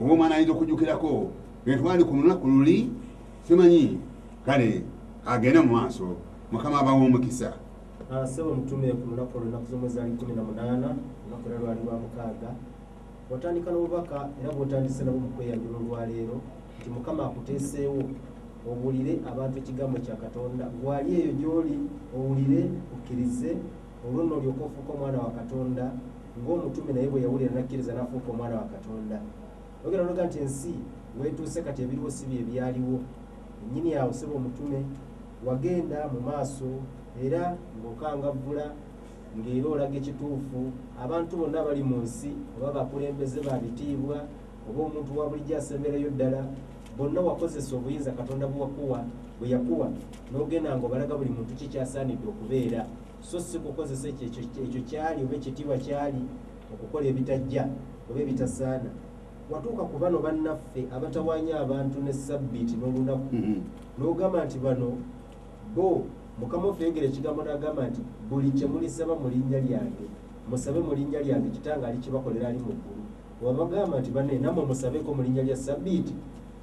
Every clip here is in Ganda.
oba omwana ayinza okujukirako etwali ku lunaku luli simanyi kale agende mu maaso mukama abawa omukisa ah, sebo mutume ku lunaku olunaku zomwe zali kumi na munaana olunaku era lwali lwa mukaaga watandika n'obubaka era bwotandise nabo mu kweyanjula olwaleero nti mukama akuteeseewo owulire abantu ekigambo kya katonda gwali eyo gy'oli owulire ukkirize Olwo nno olyoke ofuuke omwana wa Katonda ng'omutume naye bwe yawulira n'akkiriza n'afuuka omwana wa Katonda. Oyogera n'oyogera nti ensi weetuuse kati ebiriwo si bye byaliwo. Nnyini awo ssebo omutume wagenda mu maaso era ng'okangavvula ng'era olaga ekituufu abantu bonna abali mu nsi oba bakulembeze ba bitiibwa oba omuntu wa bulijjo asemberayo ddala Bonna wakozesa obuyinza Katonda bwe wakuwa bwe yakuwa n'ogenda ng'obalaga buli muntu ki ky'asaanidde okubeera so si kukozesa ekyo ekyo ekyo ky'ali oba ekitiibwa ky'ali okukola ebitajja oba ebitasaana. Watuuka ku bano bannaffe abatawaanya abantu ne ssabbiiti n'olunaku n'ogamba nti bano bo Mukama waffe yayogera ekigambo n'agamba nti buli kye mulisaba mu linnya lyange musabe mu linnya lyange Kitange alikibakolera ali mu ggulu. wabagamba nti bane namwe musabeko mu linnya lya sabiiti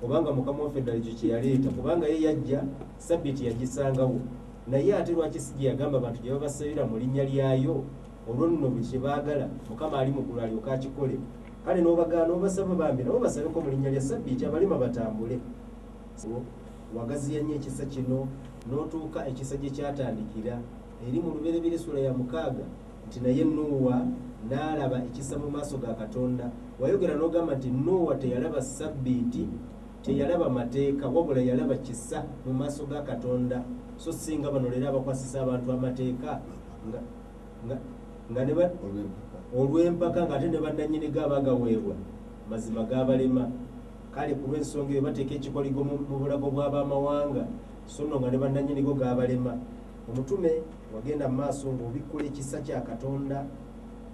obanga mukama waffe ddala ekyo kyeyaleeta kubanga ye yajja sabiiti yagisangawo naye ate lwaki si gyeyagamba abantu gye babasabira mu linnya lyayo olwo nno buli kye baagala mukama ali mu ggulu alyoka akikole kale n'obagaana obasaba bambi nabo basabeko mu linnya lya sabiiti abalema batambule wagaziya nnyo ekisa kino n'otuuka ekisa gye kyatandikira eri mu Lubereberye essula ya mukaaga nti, Naye Nuuwa n'alaba ekisa mu maaso ga Katonda. Wayogera n'ogamba nti, Nuuwa teyalaba Ssabbiiti, teyalaba Mateeka, wabula yalaba kisa mu maaso ga Katonda, so si nga bano leero abakwasisa abantu Amateeka nga, nga, nga ne ba, olw'empaka ng'ate ne bannannyini go abagaweebwa mazima gaabalema. Kale ku lw'ensonga eyo bateeka ekikoligo mu, mu bulago bw'ab'amawanga, so nno nga ne bannannyini go gaabalema. Omutume, wagenda mu maaso ng'obikkula ekisa kya Katonda,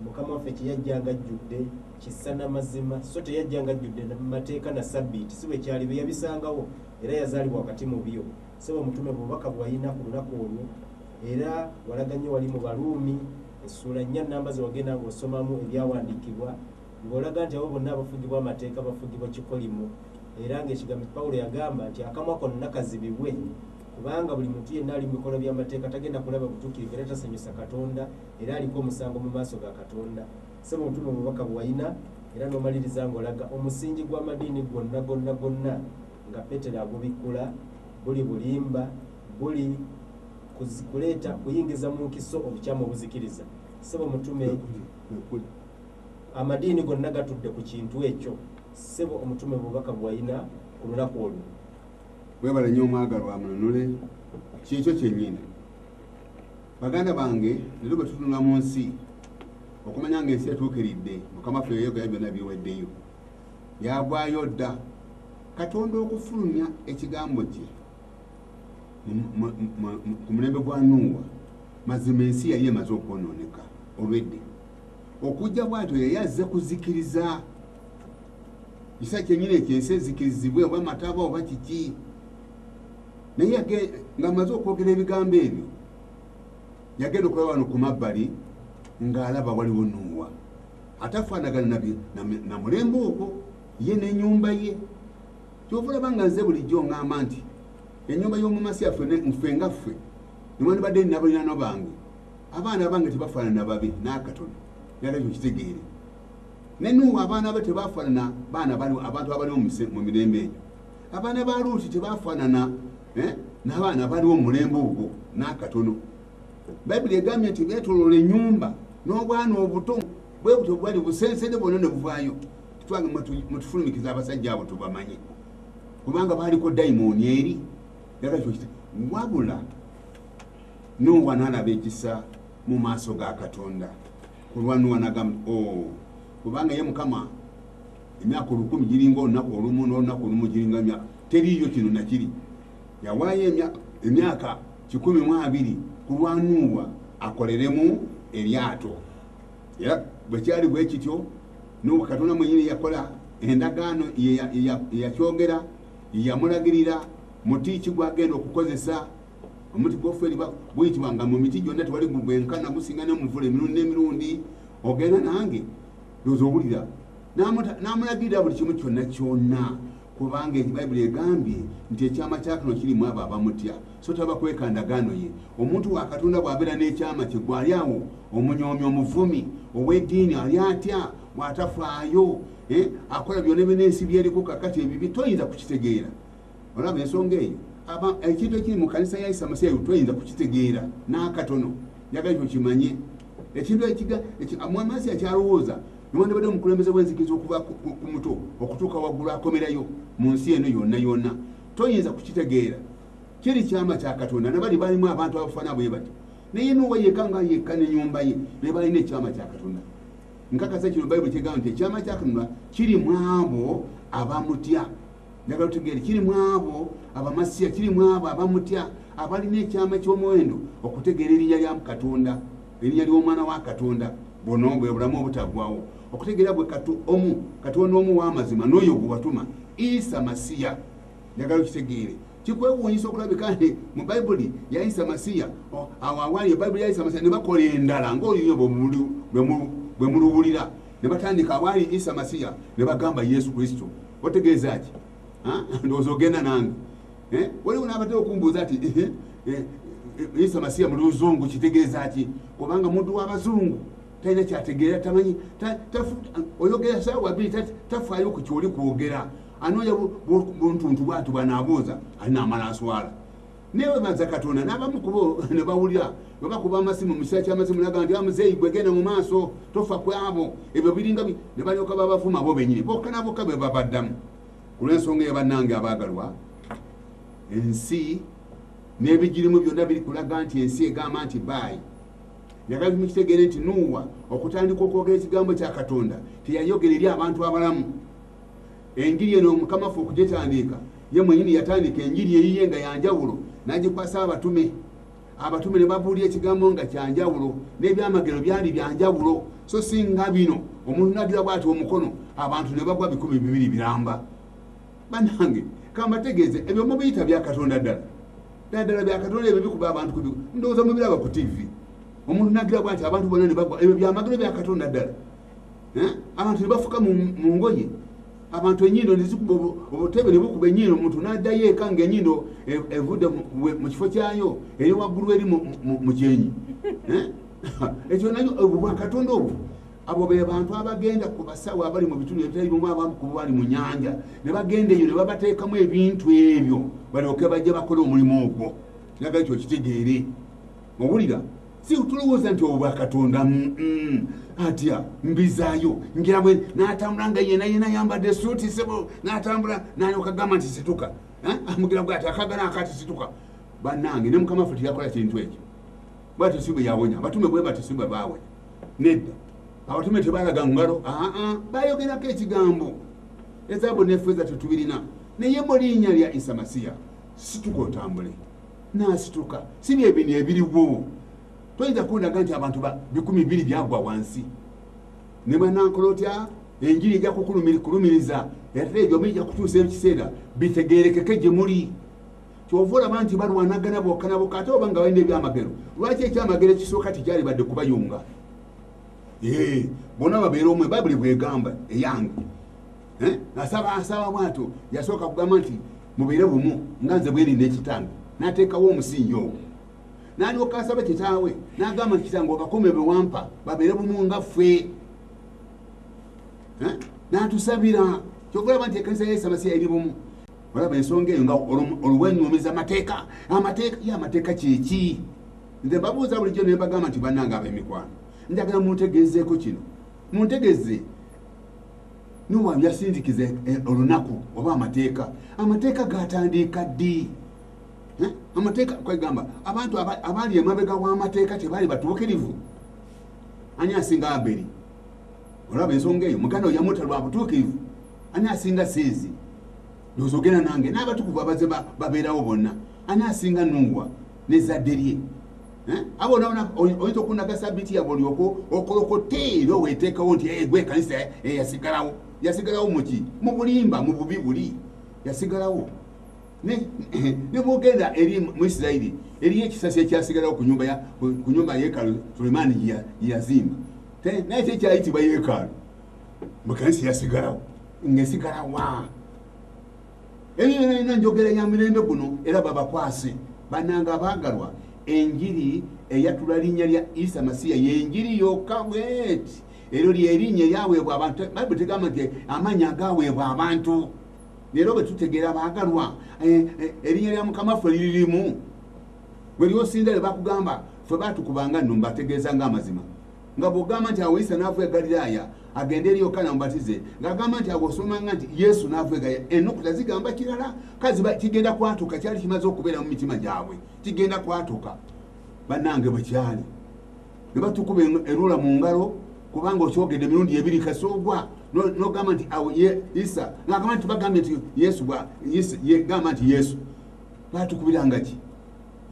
Mukama waffe kye yajja ng'ajjudde kisa na mazima, so teyajja ng'ajjudde mateeka na Ssabbiiti. Si bwe kyali. Bye yabisangawo, era yazaalibwa wakati mu byo. Ssebo Omutume, bubaka bwe walina ku lunaku olwo, era walaga nnyo wali mu Baruumi, essuula nnya nnamba ze wagenda ng'osomamu Ebyawandiikibwa, ng'olaga nti abo bonna abafugibwa amateeka bafugibwa kikolimo, era ng'ekigambo Pawulo yagamba nti, Akamwa konna kazibibwe. Kubanga buli muntu yenna ali mu bikolwa by'amateeka tagenda kulaba butukirivu era tasanyusa Katonda era aliko omusango mu maaso ga Katonda. Ssebo Mutume obubaka bwewayina era n'omaliriza nga olaga omusingi gw'amadiini gwonna gonna gonna nga Petero agubikkula buli bulimba buli kuleeta kuyingiza mu nkiso obukyamu obuzikiriza sebo mutume amadiini gonna gatudde ku kintu ekyo sebo omutume bubaka bwalina ku lunaku olwo webale nyo omwagalwa mununule kyekyo kyenyini baganda bange lero bwetutunula mu nsi okumanya nga ensi etuukiridde mukama ffe yoyogera byonna biweddeyo byagwayo dda katonda okufulumya ekigambo kye ku mulembe gwa nuuwa mazima ensi yali emaze okwonooneka olwedde okujja bwatyo yeyazze kuzikiriza kisa kyenyini ekyo ensi ezikirizibwe oba mataba oba kiki naye ngaamaze okwogera ebigambo ebyo yagenda okuba wano ku mabbali ng'alaba waliwo nuuwa ate afaanagana nabi na mulembe ogwo ye n'enyumba ye kyova olaba nga nze bulijjo ngamba nti enyumba y'omumasi yaffe nfe nga ffe newandibadde ninabalinano bange abaana abange tebafaanana babi n'akatono nalabyo kitegeere ne nuuwa abaana be tebaafaanana baana bali abantu abaliwo mu mirembe egyo abaana ba luuti tebaafaanana eh, n'abaana abaliwo mu mulembe ogwo n'akatono bayibuli egambye nti beetoloola ennyumba n'obwana obuto bwe butyo bwali busensede bwonna ne buvaayo twange mutufulumikiza abasajja abo tubamanye kubanga baaliko dayimooni eri wabula nuuwa n'alaba ekisa mu maaso ga katonda kulwa nuwa nagamba o oh, kubanga ye mukama emyaka olukumi giringa olunaku olumu nolunaku olumu giringa emyaka teriiyo kino nakiri yawaayo emyaka kikumi mu abiri kulwa nuwa akoleremu eryato era bwekyali bwe kityo nuwa katonda mwenyini yakola endagaano yeyakyogera yeyamulagirira muti ki gwagenda okukozesa omuti gwoferi guyitibwa nga mu miti gyonna tewali gugwenkana gusinga nomuvula emirundi n'emirundi ogenda nange doza owulira namulagirira buli kimu kyonna kyonna kubanga bayibuli egambye nti ekyama kyakano kirimu abo abamutya so taba kweka ndagaano ye omuntu wa katonda bw'abeera n'ekyama kye gwali awo omunyoomi omuvumi ow'eddiini ali atya bw'atafaayo eh, akola byona byona ensi byeriko kakati ebibi toyinza kukitegeera olaba ensonga eyo aba ekintu ekiri mu kanisa ya isa masiya twayinza kukitegeera n'akatono njagala ekyo kimanye ekintu ekiga mwamasi akyalowooza newandibadde omukulembeze w'enzikiriza okuva ku muto okutuuka waggulu akomerayo mu nsi eno yonna yonna toyinza kukitegeera kiri kyama kya katonda nabali balimu abantu abafana bwe bati naye nuwa yeka nga yekka nenyumba ye be balina ekyama kya katonda nkakasa kino bayibuli kyegamba nti ekyama kya katonda kiri mwabo abamutya njagala otegeere kiri mu abo abamasiya kiri mu abo abamutya abalina ekyama ky'omuwendo okutegeera erinnya lya katonda erinnya ly'omwana wa katonda buno bwe bulamu obutaggwawo okutegeera bwe omu katonda omu w'amazima n'oyo gwe watuma isa masiya njagala okitegeere kikwewuunyisa okulabika nti mu bayibuli yayisa masiya awo awaali ebayibuli yayisa masiya ne bakola endala ng'oluyimba bwe muluwulira ne batandika awaali isa masiya ne bagamba yesu kristo otegeeza ki ndowooza ogenda nange eh? waliwo nabadde okumbuuza ati eh, eh, isa masiya mu luzungu kitegeeza ki kubanga muntu wabazungu talina kyategeera tamanyi oyogera saawa biri tafaayo ku kyoli kwogera anoonya buntuntu bwatu bwanaabuuza alina amala aswala newebaza katonda nabamu kubo nebawulira webakuba amasimu mukisa kyamasimu naga nti amuzeeyi ah, gwegenda mu maaso tofa kwabo ebyo biringa nebalyoka babavuma bo benyini boka naboka bebabaddamu kulwensonga eyo bannange abaagalwa ensi n'ebigirimu byonna biri kulaga nti ensi egamba nti baayi yagala mukitegere nti nuuwa okutandika okwogera ekigambo kya katonda teyayogera eri abantu abalamu Enjiri eno Mukama ffe okugitandiika, ye mwenyini yatandika enjiri eyiye nga yanjawulo nagikwasa abatume, abatume ne babuulira ekigambo nga kyanjawulo, n'ebyamagero byali byanjawulo, so si nga bino omuntu nagira bwati omukono abantu ne bagwa bikumi bibiri biramba. Banange kambategeeze ebyo mubiyita bya Katonda ddala ddala ddala bya Katonda ebyo bikuba abantu kubi ndowooza mubiraba ku TV omuntu nagira bwati abantu bonna ne bagwa ebyo byamagero bya Katonda ddala. eh? abantu nebafuka mu ngoye abantu enyindo nezikuba obutebe nebukuba enyindo omuntu nadayo eka nga enyindo e, evudde mu kifo kyayo eri waggulu eri mu kyenyi eh? ekyo nayo obwakatonda obwo abo be bantu abagenda ku basawo abali mu bitundu ebitali bimu abamu ku bali mu nyanja ne bagenda eyo ne babateekamu ebintu ebyo balyoke bajja bakola omulimu ogwo naga ekyo kitegeere Owulira? Si tulowooza nti obwa Katonda mm, atya mbizaayo ngira bwe n'atambula nga yena yena yambadde suuti sebo n'atambula n'alyoka gamba nti situka eh? amugira bwati akagana akati situka bannange ne mukama ffe teyakola kintu ekyo bwatyo si bwe yawonya abatume bwe batyo si bwe baawonya nedda abatume tebalaga ngalo aa bayogerako ekigambo ezaabu nefeeza tetubirina naye mu linnya lya isa masiya situka otambule nasituka si byebino ebiriwo toyinza kundaga nti abantu bikumi bibiri byagwa wansi ne banankola otya enjiri ejja kukulumiriza era ebyo mija kutuusa ekiseera bitegerekeke gye muli kyova olaba nti balwanagana bokanaboka ate oba nga balina ebyamagero lwaki ekyamagero ekisooka tikyalibadde kubayunga bona babeera omwe babuli bwegamba eyange eh? nasaba asaba bwatyo yasooka kugamba nti mubeere bumu nga nze bweri nekitange nateekawo omusingi ogwo nalyoka asaba kitaawe nagamba nti kitange obakome bewampa babeere bumu nga ffe eh? natusabira kyokulaba nti ekanisa yesamasi yairi bumu olaba ensonga eyo nga olwenyumiza amateeka amateeka ye amateeka kyeki nze mbabuuza bulijjo nembagamba nti banange abemikwano njagala muntegezeeko kino muntegeze nuwa yasindikiza eh, olunaku oba amateeka amateeka gatandiika ddi eh? amateeka kwegamba abantu abaali emabega w'amateeka tebaali batuukirivu ani asinga aberi olaba ensonga eyo muganda oyamuta lwa butuukirivu ani asinga sinzi nozogera nange n'abatukuvu abaze babeerawo bonna ani asinga nuwa nezadde lye Eh? abo onaona oyinza okunaga sabiti yabwe olyoko okolokote era oweteekawo nti eh, gwe ekanisa eh, yasigalawo yasigalawo muki mubulimba mububi buli yasigalawo nebwogenda eri mu isirairi eriyo ekisasi ekyasigalawo ku nyumba yekalu sulemaani yeyazimba naye kyekyayitibwa yekalu mukanisa yasigalawo ngesigalawa eyo yonayona njogera ya mirembe guno era babakwase bananga abagalwa enjiri eyatula linnya lya isa masiya yenjiri yokka bweti eryo lyerinnya eyaweebwa abantu bayibuli tegamba nti amannya agaweebwa abantu leero bwe tutegeera baagalwa eh, eh, erinnya lya mukama ffe liririmu bwe lyosinda lye bakugamba ffe batukubanga nno mbategeeza nga amazima nga bw'ogamba nti awo isa n'ava e galilaaya agende eri yokaana mubatize ng'agamba nti awo osomanga nti yesu n'ava e galilaaya ennukuta zigamba kirala kazi kigenda kwatuka kyali kimaze okubeera mu mitima gyabwe kigenda kwatuka bannange bwe kyali ne batukuba erula mu ngalo kubanga okyogedde emirundi ebiri kasoogwa n'ogamba nti awo isa ng'agamba nti bagambye nti yesu gamba nti yesu batukubiranga ki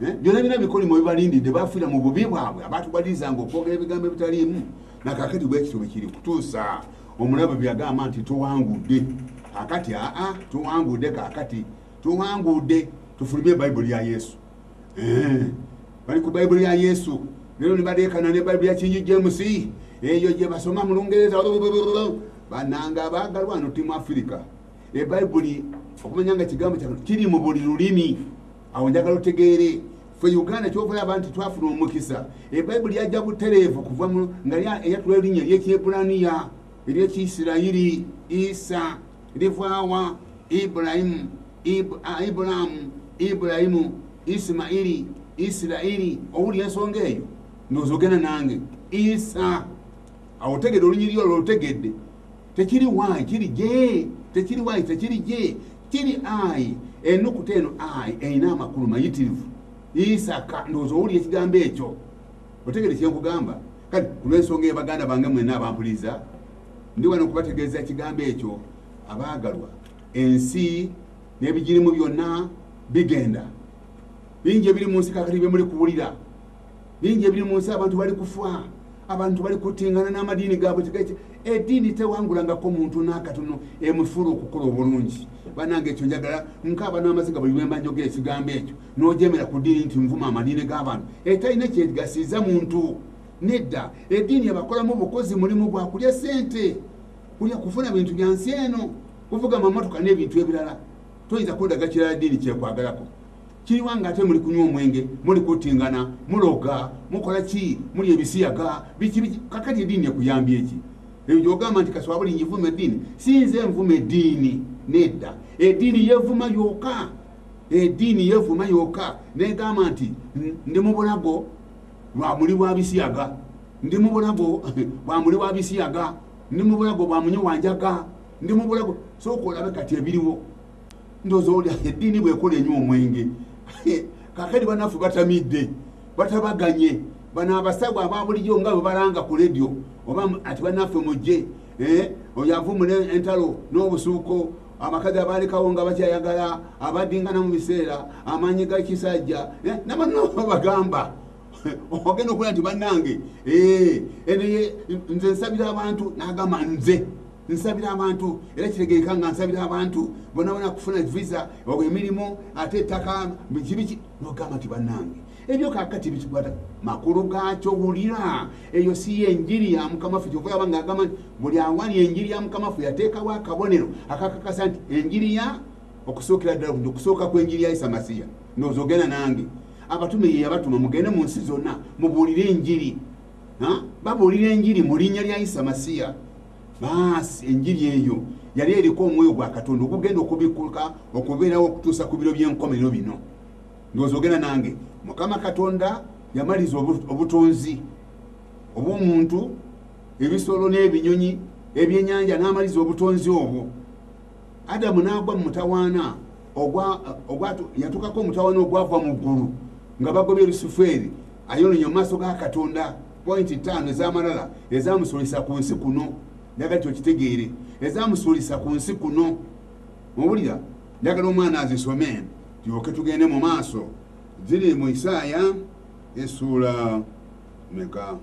Eh, byona bina bikolimo bibalindidde bafiira mu bubi bwabwe abantu balirizanga okwogera ebigambo ebitaliimu nakakati bwekityo bwekiri kutuusa omulabe byagamba nti tuwangudde kakati aa tuwangudde kakati tuwangudde tufulumye bayibuli ya yesu eh, bali ku bayibuli ya yesu lero nibadeekana ne bayibuli ya kingi jemusi eyo gyebasoma mu lungereza bananga baagalwa no timu afirika ebayibuli okumanya nga kigambo kya kiri mu buli lulimi awo njagala otegeere fe uganda kyovayo abantu twafuna omukisa ebayibuli yajja butereevu kuva nga eyatula erinnya eryekyebraniya eryekiisirayiri isa livaawa ibrahimu ibraamu ibrahimu isimairi isirairi owuli ensonga eyo nozogenda nange isa awo otegedde olunyiriri olwo olutegedde tekiri y kiri j tekiri y tekiri j kiri i enukuta eno i erina amakulu mayitirivu isaka ndowooza owulira ekigambo ekyo otegere kyenkugamba kati kulwensonga eyo baganda bange mwena abampuliza ndi wano okubategeeza ekigambo ekyo abaagalwa ensi n'ebigirimu byonna bigenda bingi ebiri mu nsi kakati bye muli kuwulira bingi ebiri mu nsi abantu bali kufa abantu bali kutingana n'amadiini gaabwe tegaki ediini tewangulangako muntu n'akatono emusuula okukola obulungi banange ekyo njagala nkaaba n'amaziga buli lwemba njogera ekigambo ekyo n'ojemera ku diini nti nvuma amadiini g'abantu etalina eh, kyegasiiza muntu nedda ediini ebakolamu obukozi mulimu gwa kulya sente kulya kufuna bintu bya nsi eno kuvuga mamotoka n'ebintu ebirala toyinza kundaga kirala diini kyekwagalako kiriwa nga ate muli kunywa omwenge muli kutingana muloga mukola ki muli ebisiyaga biki kakati ediini ekuyambye eki ebyo gyogamba nti kaswa buli njivuma ediini sinze nvuma ediini nedda ediini yevuma yoka ediini yevuma yoka negamba nti ndi mubulago lwa muli wa bisiyaga ndi mubulago bwa muli wa bisiyaga ndi mubulago bwa munyi wanjaga ndi mubulago soka olabe kati ebiriwo ndoza olya eddiini bwekola enywa omwenge kakati banafu batamidde batabaganye bano abasawo ababulijo nga bwebalanga ku ledio oba ati banaffe mujje eh, oyo avumula entalo n'obusuuko abakazi abaalekawo nga bakyayagala abadingana mu biseera amaanyi ga kisajja eh, nabanobagamba ogenda okulaba nti bannange eh, nze nsabira abantu nagamba nze nsabira abantu era kiregeeka nga nsabira abantu bonabona kufuna visa oba emirimu ate ettaka bikibiki nogamba nti bannange ebyo kakati bikikwata makulu gakyo wulira eyo si ye enjiri ya mukama ffe kyova yaba nga agamba nti buli awali enjiri ya mukama ffe yateekawo akabonero akakakasa nti enjiri ya okusookera ddala okusookakwenjiri ya isa masiya nozogenda nange abatume ye yabatuma mugende mu nsi zonna mubuulire enjiri babuulira enjiri mu linnya lya isa masiya baasi enjiri eyo yali eriko omwoyo gwa katonda okugenda okubikuluka okubeerawo okutuusa ku biro by'enkomerero bino ndowooza ogenda nange mukama katonda yamaliza obutonzi obw'omuntu ebisolo n'ebinyonyi ebyenyanja n'amaliza obutonzi obwo adamu n'agwa mu mutawaana yatukako omutawaana ogwava mu ggulu nga bagobye lusufeeri ayononye mu maaso ga katonda pointi ttaano ez'amalala ezamusuulisa ku nsi kuno njagala ti okitegeere ezamusuulisa ku nsi kuno muwulira njagala omwana azisome tyoke tugende mu maaso ziri mu isaaya esuula meka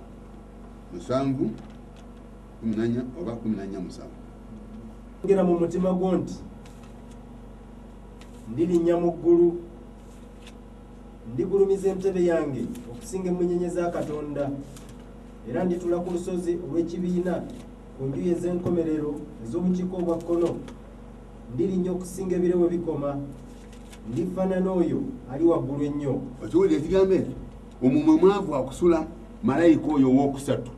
musanvu kumi nanya oba kumi nanya musanvu ogera mu mutima gwo nti ndirinnya mu ggulu ndigulumiza entebe yange okusinga emmunyenye za katonda era nditula ku lusozi olw'ekibiina ku njuyi ez'enkomerero ez'obukiiko obwa kkono ndirinnya okusinga ebire we bikoma ndifaanana oyo ali waggulu ennyo okiwulira ekigambo ekyo omumwe mwavu akusula malayika oyo ow'okusatu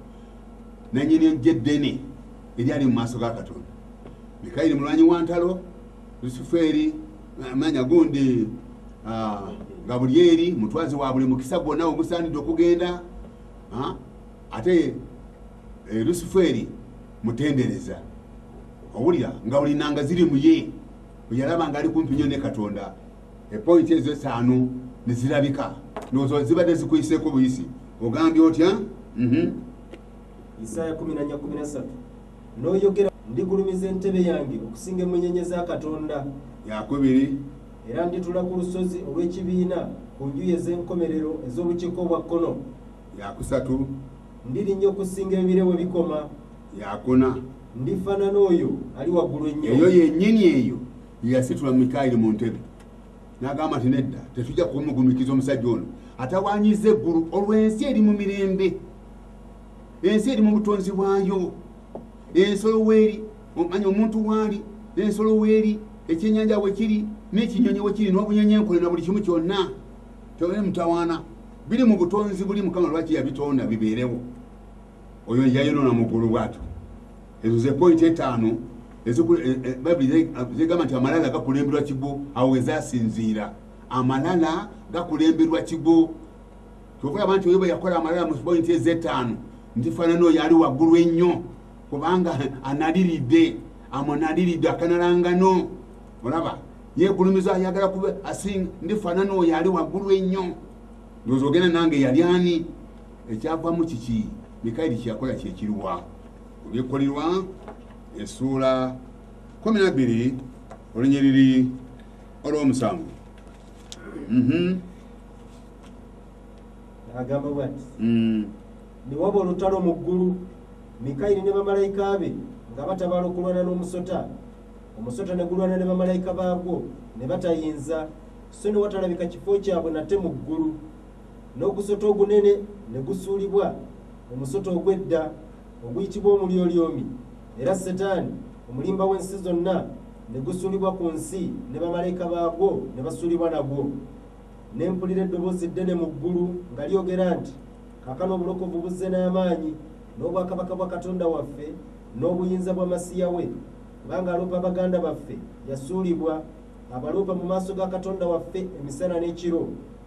nannyini eggye eddene eryali mu maaso ga katonda mikayiri mulwanyi wa ntalo lusufeeri eh, manya gundi ah, nga buli eri mutwazi wa buli mukisa gwonna ogusaanidde okugenda ah, ate eh, lusufeeri mutendereza owulira nga buli nanga ziri muye oyalaba nga ali kumpi nyo ne katonda epointi ezo etaano ne zirabika ndowooza zibadde zikuyiseeko buyisi ogambye otya mhm. isaaya 113 n'oyogera ndigulumiza entebe yange okusinga emunyenye za katonda yakubiri era nditula ku lusozi olw'ekibiina ku njuyi ez'enkomerero ez'obukiiko obwa kkono yakusatu ndirinya okusinga ebire we bikoma yakuna ndifaanana oyo ali waggulu ennyo eyo yennyini eyo Yeyasitula Mikayiri mu ntebe n'agamba nti nedda, tetujja kumugumikiza omusajja ono atawanyiza eggulu olwo ensi eri mu mirembe, ensi eri mu butonzi bwayo, ensolo weeri omanya omuntu waali, ensolo weeri, ekyenyanja wekiri, n'ekinyonyi wekiri, n'obunyonyi enkole na buli kimu kyonna tewali mutawaana biri mu butonzi buli mukama lwaki yabitonda bibeerewo oyo yayonoona mugulu bwatyo Ezo ze point etaano ezikula e, e, Baibuli zegamba nti amalala gakulemberwa kigo. Awo wezasinziira amalala gakulemberwa kigo. Kyova yaba nti oyoba yakola amalala mu point ezetaano ntifanana oyo ali waggulu ennyo kubanga analiridde amunaliridde akanalangano olaba yegulumiza ayagala kuba asing ndifanana oyo ali waggulu ennyo ndoza ogenda nange yali ani ekyavamu kiki mikayiri kyeyakola kyekiriwa Ku bikkulirwa essuula kumi na bbiri olunyiriri olw'omusanvu mhm. agamba bwati mm. ne waba olutalo mu ggulu mikayiri ne bamalayika be nga batabala okulwana n'omusota omusota ne gulwana ne bamalayika baagwo ne batayinza so ne watalabika kifo kyabwe nate mu ggulu n'ogusota ogunene ne gusuulibwa mu musota ogw'edda oguyitibwa omulyolyomi era setaani omulimba w'ensi zonna ne gusuulibwa ku nsi ne bamalayika baagwo ne basuulibwa nagwo ne mpulira eddoboozi ddene mu ggulu nga lyogera nti kakano obulokovu buzze n'amaanyi n'obwakabaka bwa katonda waffe n'obuyinza bwa masiya we kubanga aloopa baganda baffe yasuulibwa abaloopa mu maaso ga katonda waffe emisana n'ekiro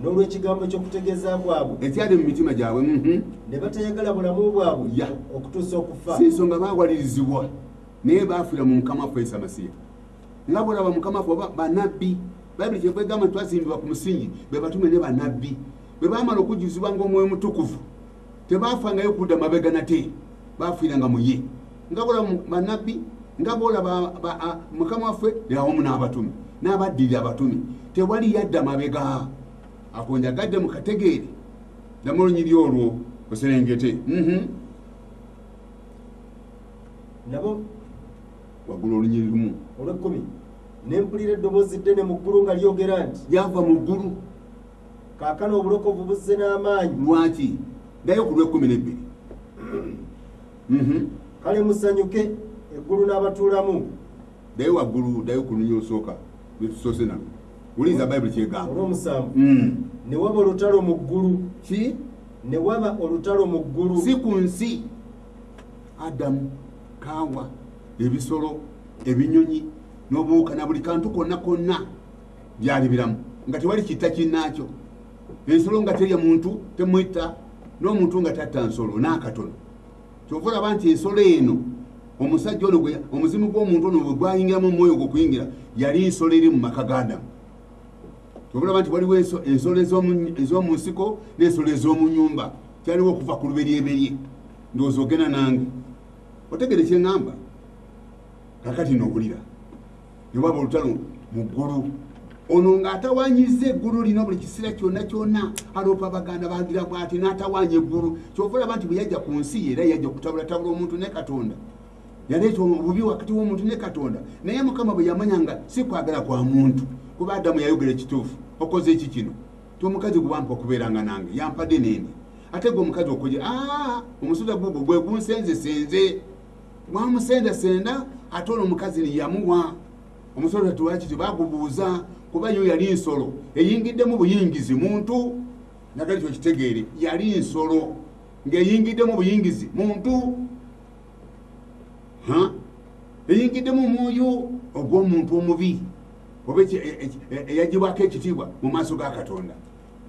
n'olw'ekigambo ky'okutegeeza kwabwe ekyali mu mitima gyabwe mhm. ne batayagala bulamu bwabwe ya okutuusa okufa si nsonga baawalirizibwa naye baafiira mu mukama waffe isa masiya nga bwolaba mukama waffe oba banabbi bayibuli kyeva egamba nti twazimbibwa ku musingi be batume ne banabbi bwe baamala okujjuzibwa ngaomwoyo mutukuvu tebaafangayo kudda mabega nate baafiiranga mu ye nga bolaba banabbi nga bolaba mukama waffe awamu n'abatumi n'abaddirira abatumi tewali yadda mabega akonjagadde mu kategeere ddamu olunyiri olwo oserengete mhm. nabo wagula olunyiri lumu olwekkumi nempulira eddoboozi ddene mu ggulu nga lyogera nti lyava mu ggulu kaakano obulokovu buzze n'amaanyi lwaki naye ku lw'ekkumi n'ebbiri mhm. kale musanyuke eggulu n'abatuulamu daye waggulu daye okununya osooka lwetusoose nalo wuliza bayibuli kyegamba olwomusanvu mm. ne waba olutalo mu ggulu ki ne waba olutalo mu ggulu si ku nsi adamu kaawa ebisolo ebinyonyi n'obuwuka na buli kantu konna konna byali biramu nga tewali kitta kinnaakyo ensolo nga terya muntu temwitta n'omuntu nga tatta nsolo n'akatono kyova olaba nti ensolo eno omusajja ono omuzimu gw'omuntu ono bwe gwayingiramu omwoyo gwe okuyingira yali nsolo eri mu maka g'adamu kyova olaba nti waliwo ensolo ez'omu nsiko n'ensolo ez'omu nyumba kyaliwo okuva ku luberyeberye ndowooza ogenda nange otegere kye ŋŋamba kakati noowulira ne waba olutalo mu ggulu ono ng'atawanyiza eggulu lino buli kiseera kyonna kyonna aloopa abaganda bagira bwati n'atawaanya eggulu kyova olaba nti bwe yajja ku nsi era yajja kutabulatabula omuntu ne katonda yaleeta obubi wakati w'omuntu ne katonda naye mukama bwe yamanya nga si kwagala kwa muntu kuba adamu yayogera ekituufu okoze eki kino ti omukazi gwe wampa okubeeranga nange yampadde nende ate gwe omukazi okoje aa omusota gugwo gwe gunsenzesenze wamusendasenda ate ono omukazi niyamuwa omusolo tatuwakiti bagubuuza kuba yo yali nsolo eyingiddemu buyingizi muntu nagali kyo kitegeere yali nsolo ng'eyingiddemu buyingizi muntu eyingiddemu omwoyo ogw'omuntu omubi oba e, e, e, eyagibwako ekitiibwa mu maaso ga katonda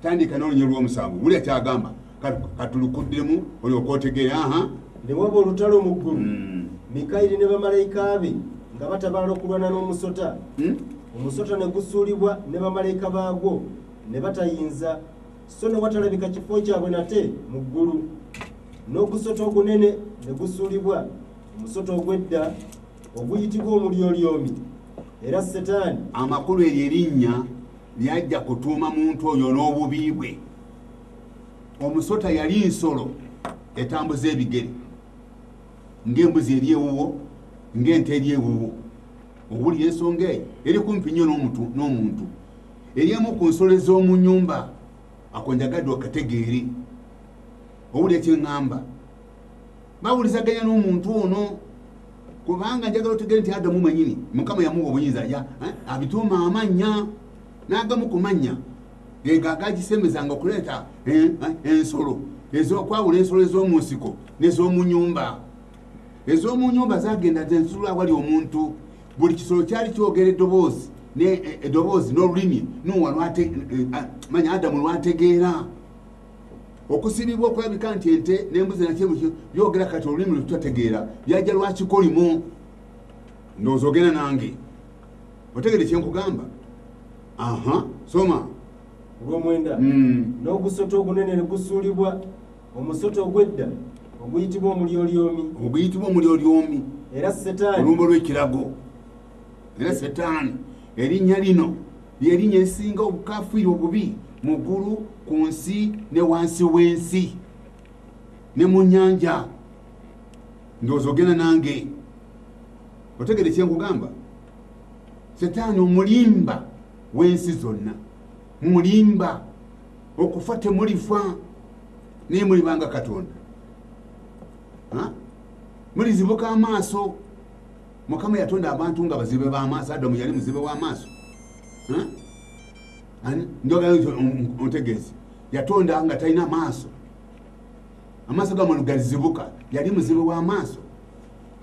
tandika n'olunyo lw'omusango wulira kyagamba katulukuddemu olyoka otegeera aha newaba olutalo mu ggulu hmm. mikayiri ne bamalayika be nga batabaala okulwana n'omusota hmm? omusota ne gusuulibwa ne bamalayika baagwo ne batayinza so ne watalabika kifo kyabwe nate mu ggulu n'ogusota ogunene ne gusuulibwa omusota ogw'edda oguyitibwa omulyolyomi era setaani amakulu eryo erinnya naye ajja kutuuma muntu oyo n'obubi bwe omusota yali nsolo etambuza ebigere ng'embuzi eri ewuwo ng'ente eri ewuwo owulira ensonga eyo eri kumpi nnyo n'omuntu eri emu ku nsolo ez'omu nyumba akonjagadde okategeere owulira kyeŋŋamba bawulizaganya n'omuntu ono kubanga njagala otegere nti adamu manyini mukama yamuwa obuyinza ya eh, abituuma amannya n'agamu ku mannya ego agagisemezanga okuleeta eh, eh, ensolo ezokwawula ensolo ez'omu nsiko n'ez'omu nyumba ez'omu nyumba zagenda zensula awali omuntu buli kisolo kyali kyogera eddoboozi eddoboozi n'olulimi nuwa manya adamu lwategeera okusibibwa okulabika nti ente nembuzi nakye byogera kati olulimi lwetutategeera byajja lwakikolimu ndowooza ogenda nange otegede kyenkugamba aha soma ogwomwenda hmm. n'ogusota ogunene ne gusuulibwa omusota ogwedda oguyitibwa omulyolyomi oguyitibwa omulyolyomi era setaani olumbo lw'ekirago era setaani erinnya lino lyerinnya erisinga obukafiiri obubi mu ggulu ku nsi ne wansi w'ensi ne mu nyanja ndowooza ogenda nange otegere kyenkugamba setaani omulimba w'ensi zonna mulimba okufa temulifa naye mulibanga katonda mulizibuka amaaso mukama yatonda abantu nga bazibe bamaaso adamu yali muzibe wamaaso njogaontegeezi yatonda nga talina maaso amaaso gamanu gazibuka yali muzibe wamaaso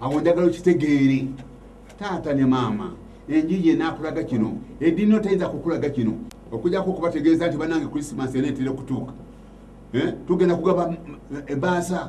awo njagala okitegeere taata ne maama enjiji enakulaga kino edini otayinza kukulaga kino okujako okubategeeza nti banange krisimas ena etera okutuuka eh? tugenda kugaba ebaasa eh,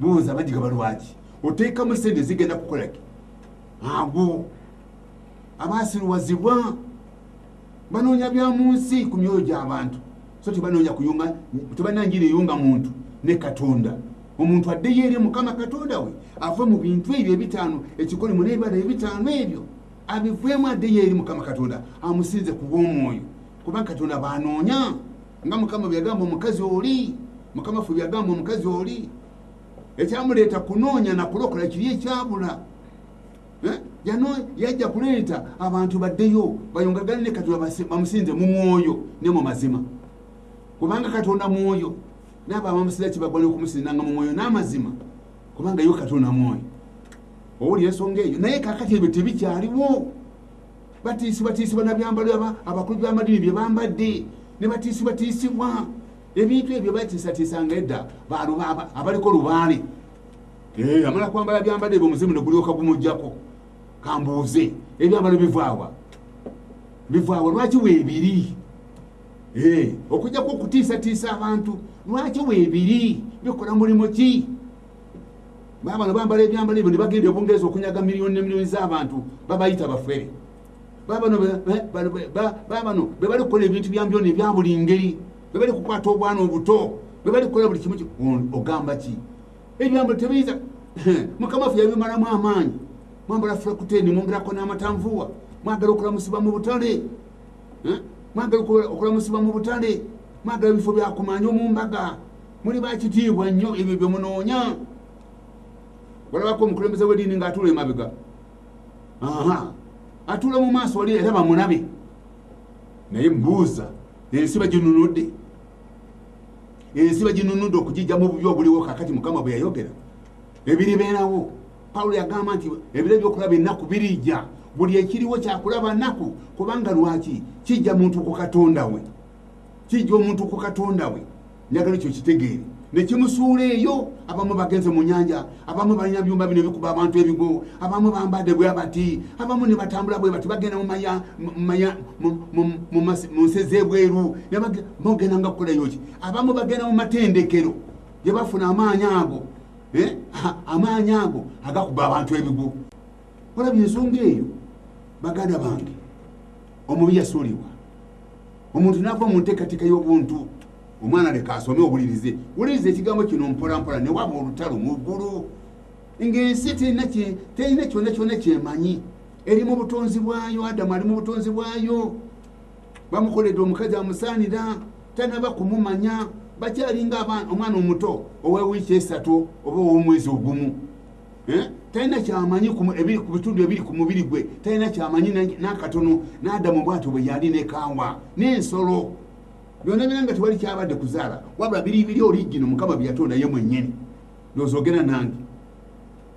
Buuza abagigaba lwaki oteekamu sente zigenda kukolaki ago abasiruwazibwa banoonya bya mu nsi ku myoyo gy'abantu so tebanoonya kuyunga tebalina njira eyunga muntu ne katonda omuntu addeyo eri mukama katonda we ave mu bintu ebyo ebitaano ekikole mu n'ebibala ebitaano ebyo abivuemu addeyo eri mukama katonda amusinze ku bw'omwoyo kuba katonda banoonya nga mukama byeyagamba omukazi oli mukama ffe byeyagamba omukazi oli ekyamuleeta kunoonya nakulokola kiri ekyabula eh? yano yajja kuleeta abantu baddeyo bayongagane ne katonda bamusinze mu mwoyo ne mu mazima kubanga katonda mwoyo naabo abamusinza kibagwa nokumusinzanga mu mwoyo n'amazima kubanga yo katonda mwoyo owulira ensonga eyo naye kakati ebyo tebikyaliwo batiisibwatiisibwa nabyambalo abakulu byamadini byebambadde nebatiisibwatiisibwa ebintu ebyo batiisatiisanga edda abaliko lubaale eh, amala kwambala byambadde ebyo omuzimu negulyoka gumugjako kambuuze ebyambalo bivaawa bivaawa lwaki webiri eh, okujjaku okutiisatiisa abantu lwaki webiri bikola mulimu ki baba bano bambala ebyambalo ebyo ne bagenda obungereza okunyaga miliyoni ne miliyoni z'abantu babayita bafere baba bano be bali kukola ebintu byambyona ebya buli ngeri be bali kukwata obwana obuto be bali kukola buli kimu ogamba ki ebyambalo tebiyinza mukama ffe yabimalamu amaanyi mwambala frakuteni mwongerako n'amatanvuwa mwagala okulamusiba mu butale mwagala okulamusiba mu butale mwagala ebifo byakumanya omumbaga muli bakitiibwa nnyo ebyo bye munoonya olabako omukulembeze w'ediini ng'atuula emabega aha atuula mu maaso wali era bamulabe naye mbuuza ensi baginunudde ensi baginunudde okugijja mu bubi obuliwo kakati mukama bwe yayogera ebiribeerawo pawulo yagamba nti ebiro ebyokulaba ennaku birijja buli ekiriwo kyakulaba nnaku kubanga lwaki kijja muntu ku katonda we kijja omuntu ku katonda we njagala ekyo kitegeere nekimusuula eyo abamu bagenze mu nyanja abamu balina byumba bino bikuba abantu ebigo abamu bambadde bwe bati abamu ne batambula bwe bati bagenda mu nsi z'ebweru mugenda nga kukolayoki abamu bagenda mu matendekero gye bafuna amaanyi ago eh? amaanyi ago agakuba abantu ebigo olabye ensonga eyo baganda bange omubi yasuulibwa omuntu nava mu nteekateeka y'obuntu omwana leka asome owulirize wuliriza ekigambo kino mpolampola ne waba olutalo mu ggulu ng'ensi terina kyonna kyonna kyemanyi eri mu butonzi bwayo adamu ali mu butonzi bwayo bamukoledde omukazi amusaanira tanaba kumumanya bakyalinga omwana omuto owewiiki esatu oba ow'omwezi ogumu Eh? talina kyamanyi ku bitundu ebiri ku mubiri gwe talina kyamanyi nakatono nadamu bwatyo bwe yali nekawa nensolo byona byona nga tewali kyabadde kuzaala wabula biri biri oligino mukama byeyatonda ye mwenyini nozogera nange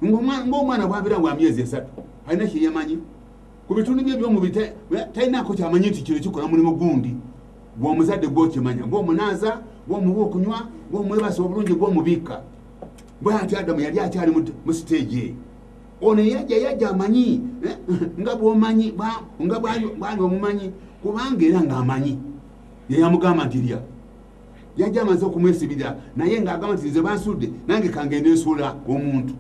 ngaomwana bwabira wa myezi esatu alina kyeyamanyi ku bitundu bye byomubiri eh, talinako kyamanyi nti kino kikola mulimu gundi gwomuzadde gwokimanya gwomunaaza gwomuwa okunywa gwomwebasa obulungi gwomubikka bwati adamu yali akyali mu siteegi eyo ono eyajja yajja amanyi eh, nga bwomanyi nga bwali omumanyi kubanga era ngaamanyi yeyamugamba nti lya yajja amaze okumwesibirira naye ngaagamba nti nze bansudde nange kangende nsuula omuntu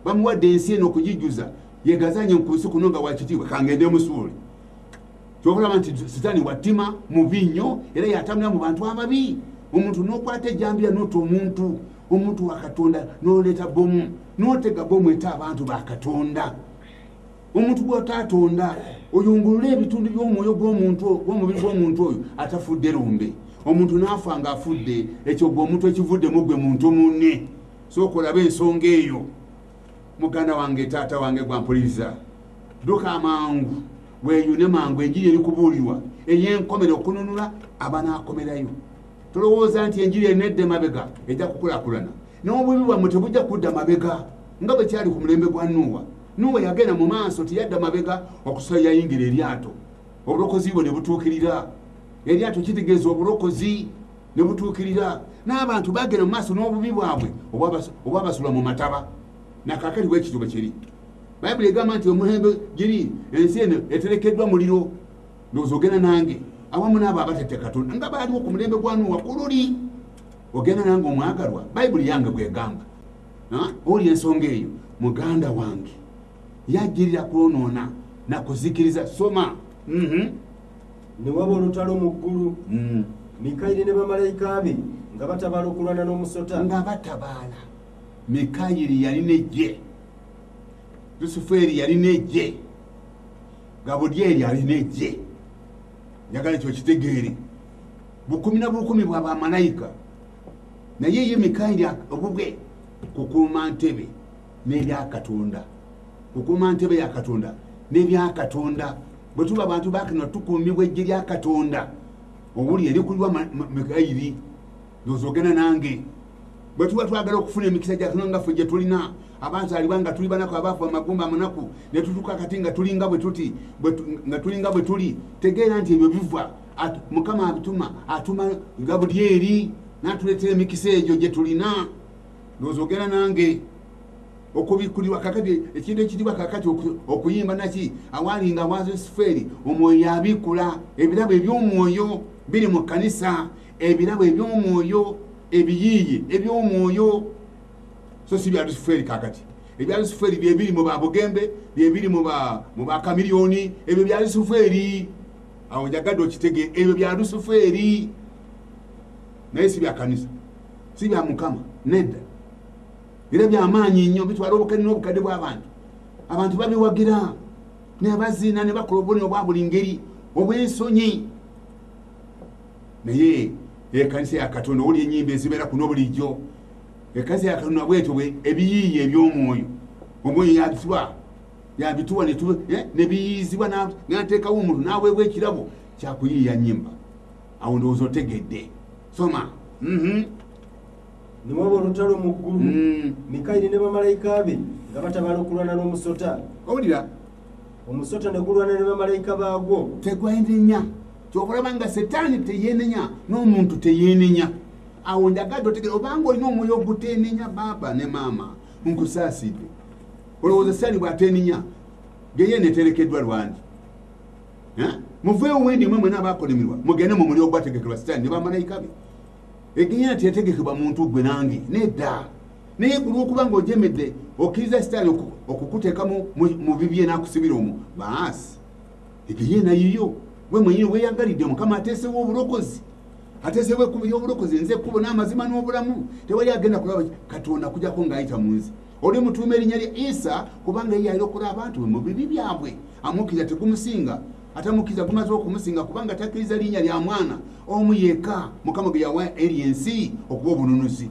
bamuwadde ensi eno okugijuza yegazanye nkunsi kuno nga wakitiibwa kangende musuule kyokulaba nti sitaani watima mubi nnyo era yatambula mu bantu ababi omuntu nokwata ejambiya nota omuntu omuntu wakatonda noleeta bomu notega bomu eta abantu bakatonda omuntu gwotaatonda oyungulule ebitundu byomwoyo gwomubiri gwomuntu oyo atafudde lumbe omuntu nafa nga afudde ekyo gwe omuntu ekivuddemu gwe muntu munne soka olabe ensonga eyo muganda wange taata wange gwampuliriza duka amangu weyune mangu enjiri eri kubuulirwa eyenkomera okununula abanaakomerayo tolowooza nti enjiri enedda emabega ejja kukulakulana n'obubi bwammwe tebujja kudda mabega nga bwe kyali ku mulembe gwa nuuwa nuuwa yagenda mu maaso teyadda mabega okusala yayingira eryato obulokozi bwe ne butuukirira eryato kitegeeza obulokozi ne butuukirira n'abantu bagenda mu maaso n'obubi bwabwe obwabasula mu mataba nakakati bwekityo bwe kiri bayibuli egamba nti omuhembe giri ensi eno eterekeddwa muliro ndowooza ogenda nange awamu naabo abatette katonda nga baaliwo ku mulembe gwa nuwa ku luli ogenda nange omwagalwa bayibuli yange bwegamba oli ensonga eyo muganda wange yajjirira kwonoona nakuzikiriza soma mm -hmm. ne waba olutalo mu ggulu mm. mikayiri ne bamalayika be nga batabaala okulwana n'omusota nga batabaala mikayiri yali nejje lusufeeri yali nejje gabudyeri ali nejje njagala ekyo kitegeere bukumi na bukumi bwa bamalayika naye ye mikayiri obubwe kukuuma ntebe n'ebyakatonda kukuuma ntebe ya katonda n'ebyakatonda bwe tuba abantu bakino tukuumibwa ejje lya katonda obuli erikulirwa mikairi nozogena nange bwe tuba twagala okufuna emikisa gyakino nga ffe gye tulina abazaalibwa nga tuli banaku abaafu amagumba amunaku ne tutuuka kati nga tulinga bwe tuti nga tulinga bwe tuli tegeera nti ebyo biva mukama abituma atuma nga buli eri natuleetera emikisa egyo gye tulina nozogena nange okubikkulirwa kakati ekintu ekitibwa kakati okuyimba naki awaali nga wazo sifeeri omwoyo yabikkula ebirabo eby'omwoyo biri mu kkanisa ebirabo eby'omwoyo ebiyiiye eby'omwoyo so si bya lusifeeri kakati ebya lusifeeri byebiri mu babugembe byebiri mu bakamiliyoni ebyo bya lusifeeri awo njagadde okitege ebyo bya lusifeeri naye si bya kanisa si bya mukama nedda era byamaanyi nnyo bitwala obukadde n'obukadde bw'abantu abantu babiwagira naye baziina ne bakola obubonero bwa buli ngeri obw'ensonyi naye ekanisa ya katonda owuli enyimba ezibeera kuno bulijjo ekanisa ya katonda bwetyo ebiyiiye eby'omwoyo omwoyo yabituwa yabituwa eh, nebiyiizibwa nateekawo omuntu naweebwa ekirabo kyakuyiiya nyimba awo ndowooza otegedde soma mm-hmm. ne waba olutalo mu ggulu mm. mikayiri ne bamalayika be nga batabala okulwana n'omusota owulira omusota ne gulwana ne bamalayika baagwo tegwenenya kyokulaba nga setaani teyenenya n'omuntu teyenenya awo njagadde otegere obanga olina omwoyo ogutenenya baaba ne maama nkusaasidde olowooza sitaani bwatenenya geye neterekeddwa lwandi muveewo wendi mwe mwena abakolimirwa mugende mu muli ogwategekerwa sitaani ne bamalayika be Egeya teyategekebwa muntu gwe nange nedda naye ku lw'okuba ng'ojemedde okkiriza sitaani okukuteeka mu bibye n'akusibira omwo baasi egeya enayiyo gwe mwenyini weyagalidde mukama ateesewo obulokozi ateesewo ekkubo ly'obulokozi nze ekkubo n'amazima n'obulamu tewali agenda kulaba katonda kujako ng'ayita mu nze oli mutuuma erinnya lya isa kubanga ye yalokola abantu be mu bibi byabwe amukkiriza tegumusinga atamukkiriza gumaze okumusinga kubanga takkiriza linnya lya mwana omu yekka mukama gwe yawa eri ensi okuba obununuzi